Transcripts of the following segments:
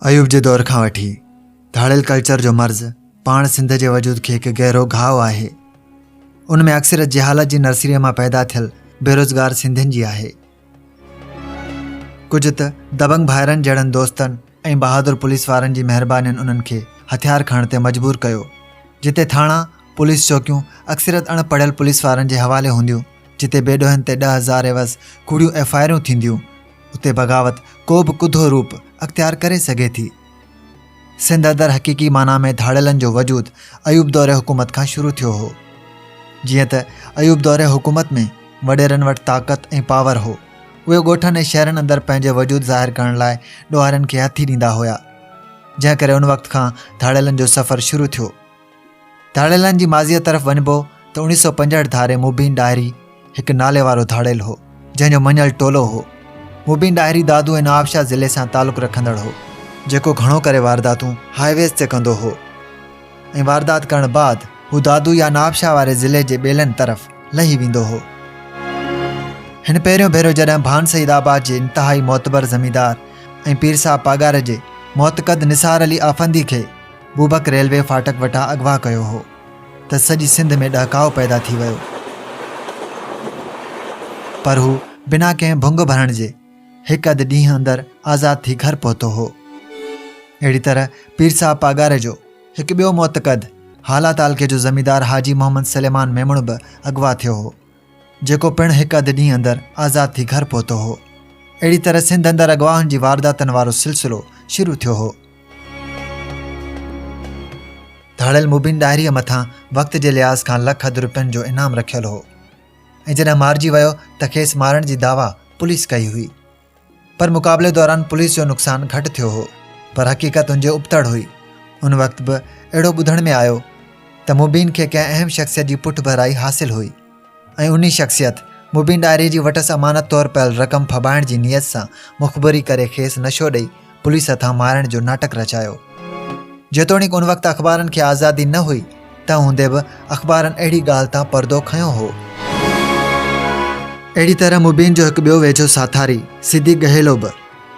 ايوب جي دور کان وٺي ڌاڙيل ڪلچر جو مرض پاڻ سنڌ جي وجود کي هڪ گهرو گهاء آهي ان ۾ اڪثريت جهالت جي نرسريء مان پيدا ٿيل بيروزگار سنڌين جي آهي ڪجهه ته دبنگ ڀائرن جهڙن دوستن ۽ بهادر پوليس وارن جي مهربانين انهن کي هٿيار کڻڻ تي مجبور ڪيو جتي ٿاڻا پوليس چوڪيون اڪثريت اڻ پڙهيل پوليس وارن جي حوالي هونديون جتي بي ڏوهين تي ڏهه هزار عيوض ڪوڙيون ايف آء آرون ٿينديون اتي بغاوت ڪو به ڪڌو روپ اختيار ڪري سگهي ٿي سنڌ اندر حقيقي معنيٰ ۾ ڌاڙيلن جو وجود ايوب دور حڪومت کان شروع ٿيو هو جيئن ته ايوب دور حڪومت ۾ وڏيرن وٽ طاقت ۽ پاور هو اهي ڳوٺن ۽ شهرن اندر پنهنجي وجود ظاهر ڪرڻ لاء ڏوهارين کي هٿي ڏيندا هيا جنهن ڪري ان وقت کان ڌاڙيلن جو سفر شروع ٿيو ڌاڙيلن جي ماضيء طرف وڃبو ته اوڻيهه سؤ پنجهٺ ڌاري مبين ڏاهري هڪ نالي وارو ڌاڙيل هو جنهن جو مڃيل ٽولو هو مبين ڏاهري دادو ۽ نوابشاهه ضلعي سان تعلق رکندڙ هو جيڪو گهڻو ڪري وارداتون هاء ويز تي ڪندو هو ۽ واردات ڪرڻ بعد هو دادو يا نوابشاهه واري ضلعي جي ٻيلن طرف لهي ويندو هو هن پهريون ڀيرو جڏهن ڀان سيد آباد جي انتهائي معتبر زميندار ۽ پير صاحب پاڳار جي معتقد نثار علي آفندي کي بوبڪ ريلوي ڦاٽڪ وٽان اغوا ڪيو هو ته سڄي سنڌ ۾ ڏهڪاء پيدا ٿي ويو پر هو بنا ڪنهن ڀنگ ڀرڻ جي هڪ اڌ ڏينهن اندر آزاد ٿي گهر پهتو هو اهڙي طرح پير صاحب پاڳاري جو هڪ ٻيو معتقد هالا تعلقي جو زميندار حاجي محمد سليمان ميمڻ به اغوا ٿيو هو جيڪو پڻ هڪ اڌ ڏينهن اندر آزاد ٿي گهر پهتو هو. اهڙي طرح سنڌ اندر اغواهن جي وارداتن وارو سلسلو شروع ٿيو هو. ڌاڙيل مبين ڏاهريء مٿان وقت جي لحاظ کان لک اڌ روپين جو انعام رکيل هو ۽ جڏهن مارجي ويو ته کيس مارڻ جي دعويٰ پوليس ڪئي هئي. پر مقابلي دوران پوليس جو نقصان گهٽ ٿيو هو پر حقيقت ان جي ابتڙ هئي ان وقت به اهڙو ٻڌڻ ۾ آيو ته مبين کي ڪنهن اهم شخصيت جي پٺ ڀرائي حاصل هئي ۽ انهي شخصيت مبين ڏاهري جي وٽس امانت طور پيل رقم ڦٻائڻ جي نيت سان مخبري ڪري کيس نشو ڏئي پوليس هٿان مارڻ جو ناٽڪ رچايو جيتوڻيڪ ان وقت اخبارن کي آزادي نه هئي تنهن هوندي به اخبارن اهڙي ڳالهه تان پردو کنيو هو اهڙي طرح مبين جو هڪ ٻيو ويجهو ساٿاري صديق گهيلو به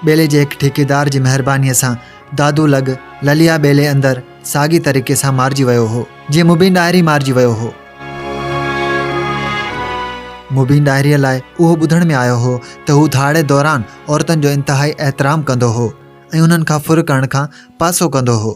ٻيلي جي هڪ ٺيڪيدار جي مهربانيء سان دادو لڳ لليا ٻيلي اندر ساڳي طريقي سان مارجي ويو هو جيئن مبين ڏاهري مارجي ويو هو مبين ڏاهريء لاء اهو ٻڌڻ ۾ آيو هو ته هو ڌاڙي دوران عورتن جو انتهائي احترام ڪندو هو ۽ انهن کان ڦر ڪرڻ کان پاسو ڪندو هو.